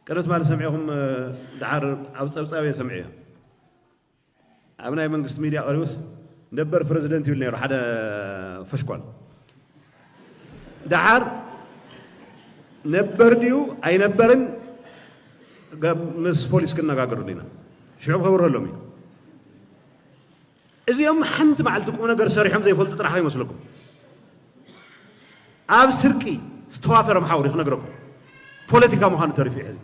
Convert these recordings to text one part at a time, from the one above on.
ቅድም ትማሊ ሰሚዕኹም ደሓር ኣብ ፀብፃብ እየ ሰሚዐዮ ኣብ ናይ መንግስቲ ሚድያ ቀሪቡስ ነበር ፕረዚደንት ይብል ነይሩ ሓደ ፈሽኳል ደሓር ነበር ድዩ ኣይነበርን ምስ ፖሊስ ክነጋገሩ ዲና ሽዑ ከብርሀሎም እዩ እዚኦም ሓንቲ መዓልቲ ቁምነገር ሰሪሖም ዘይፈልጡ ጥራሕ ከይመስለኩም። ኣብ ስርቂ ዝተዋፈረ መሓውር እዩ ክነግረኩም። ፖለቲካ ምዃኑ ተሪፉ እዩ ሕዚ።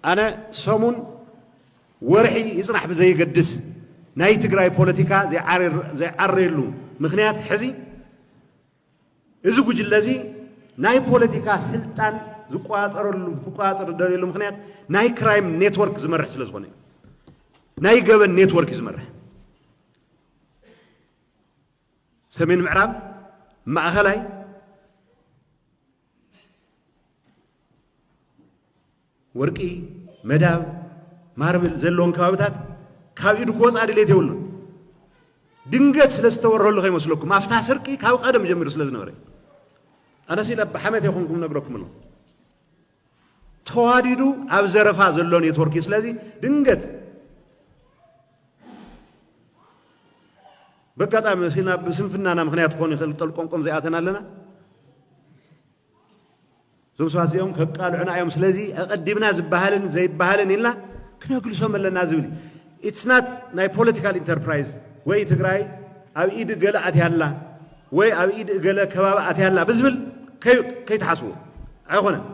ኣነ ሰሙን ወርሒ ይጽናሕ ብዘይገድስ ናይ ትግራይ ፖለቲካ ዘይዓረየሉ ምክንያት ሕዚ እዚ ጉጅለ እዚ ናይ ፖለቲካ ስልጣን ዝቆፃፀረሉ ክቆፃፀር ዝደልየሉ ምኽንያት ናይ ክራይም ኔትወርክ ዝመርሕ ስለ ዝኾነ እዩ። ናይ ገበን ኔትወርክ እዩ ዝመርሕ። ሰሜን ምዕራብ፣ ማእኸላይ ወርቂ፣ መዳብ፣ ማርብል ዘለዎም ከባቢታት ካብ ኢዱ ክወጽኣ ድሌት የብሉን። ድንገት ስለ ዝተወረሉ ከይመስለኩም ኣፍታ ስርቂ ካብ ቀደም ጀሚሩ ስለ ዝነበረ ኣነሲ ናብ ሓመት የኹንኩም ነግረኩም ኣሎ ተዋዲዱ ኣብ ዘረፋ ዘሎ ኔትወርክ እዩ ስለዚ ድንገት በጋጣሚ ሲና ብስንፍናና ምክንያት ክኾን ይኽእል ጠልቆምቆም ዘይኣተና ኣለና እዞም ሰባት እዚኦም ከቃልዑና እዮም ስለዚ ኣቐዲምና ዝበሃልን ዘይበሃልን ኢልና ክነግልሶም ኣለና ዝብል ኢትስ ናት ናይ ፖለቲካል ኢንተርፕራይዝ ወይ ትግራይ ኣብ ኢድ እገለ ኣትያላ ወይ ኣብ ኢድ እገለ ከባቢ ኣትያላ ብዝብል ከይትሓስቡ ኣይኮነን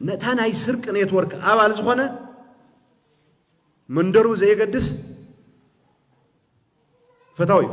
ነታ ናይ ስርቂ ኔትወርክ ኣባል ዝኾነ መንደሩ ዘየገድስ ፈታዊ እዩ